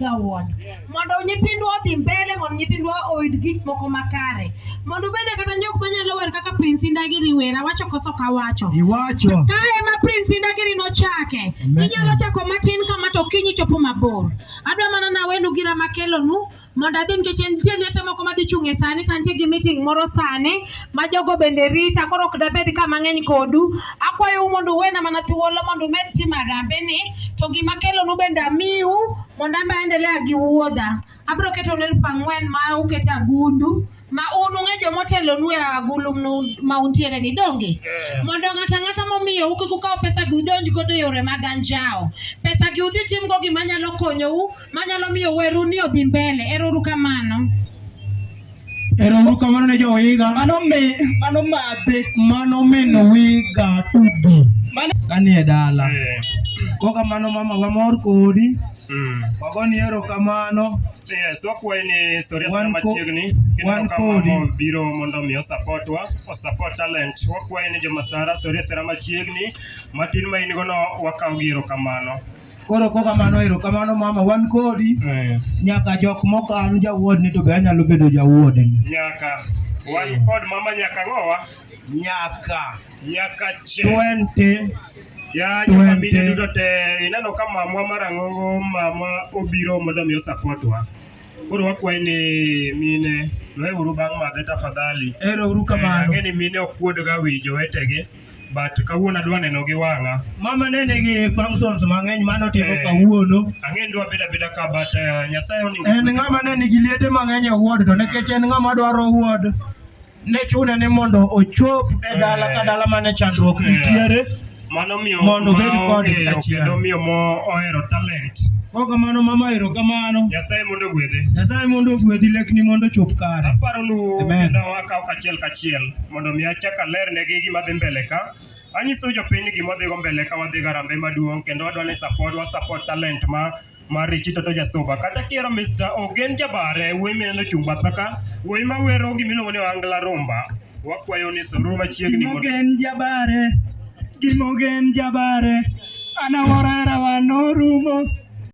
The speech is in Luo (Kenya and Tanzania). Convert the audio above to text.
jawuon mondo nyithindwa odhi mbele mondo nyithindwa oyud gik moko makare mondo ubede kata jok manyalo wer kaka prince indagiri wer awacho koso kawacho iwacho ka ema prince indagiri nochake inyalo chako matin kama to kinyi chopo mabor adwa mana nawenu gira makelonu mondo adhi nikech nitie liete moko madhi chung' e sani to antie gi meeting moro sani ma jogo bende rita koro ok dabed ka mang'eny kodu Akwayou mondo uwena mana thuolo mondo umed timo harambeni, to gima kelonu bende amiu mondo an be aendelea gi wuodha. Abiro ketonu elfu ang'wen ma uket e agundu ma un ung'e joma otelonu e agulu mnu- ma untiere ni donge mondo ng'ato ang'ata momiyo u kik ukaw pesa gi udonj godo e yore mag anjawo. Pesa gi udhi timgo gima nyalo konyou manyalo miyo weru ni odhi mbele. Ero uru kamano. Ero uru kamano ne jowiga. Mano me mano madhe. Mano meno wiga tubi. Mano kanie dala. Eh. Kwa kamano mama wamor kodi. Mm. Wagoni ero kamano. Yes, wakwayi ni historia sana machiegni wan kodi biro mondo mi osapotwa osapot talent wakwayi ni jomasara historia sana machiegni matin ma in go no wakaw gi erokamano Koro ko kamano ero kamano mama wan kodi Eh, nyaka jok mokan jawuodni to be anyalo bedo jawuodni. nyaka wan kod mama nyaka ng'owa Nyaka nyaka che 20 ya Twenty. jofamilia duto te ineno ka mamwa marang'ongo mama obiro mondo mi osapotwa koro wakwaye ni mine weuru bang' madhe tafadhali ero uru kamano. ang'e ni mine okuodga wi jowetegi but kawuono adwa neno gi wang'a. Mama ne nigi functions mang'eny mano timo eh, kawuono. Ang'e ndwa beda beda ka but uh, Nyasaye oni. En ng'ama ne nigi liete mang'eny e ward to nekech en ng'ama dwaro ward ne chune ni mondo ochop e eh. dala ka dala mane chandruok nitiere. Mano miyo mondo obed kod achiel. Kendo miyo mo ohero talent. Kwa kamano mama ero kamano. Nyasaye mondo ogwedhe. Nyasaye mondo ogwedhi lekni mondo chop kare. Aparo nu. Amen. Ndawa ka kachiel kachiel. mondo mi achak aler negi gima dhi mbele ka. Anyiso jopiny ni gima dhigo mbele ka wadhi garambe maduong' kendo wadwa ni support wa support talent ma mar Richi Toto Jasuba. Kata kiero Mr. Ogen Jabare, wuoyi mineno chung' batha ka, wuoyi ma wero gima iluongo ni Ohangla Rumba. Wakwayo ni suru machiegni mondo Gimogen Jabare, Gimogen Jabare, anawora rawa norumo.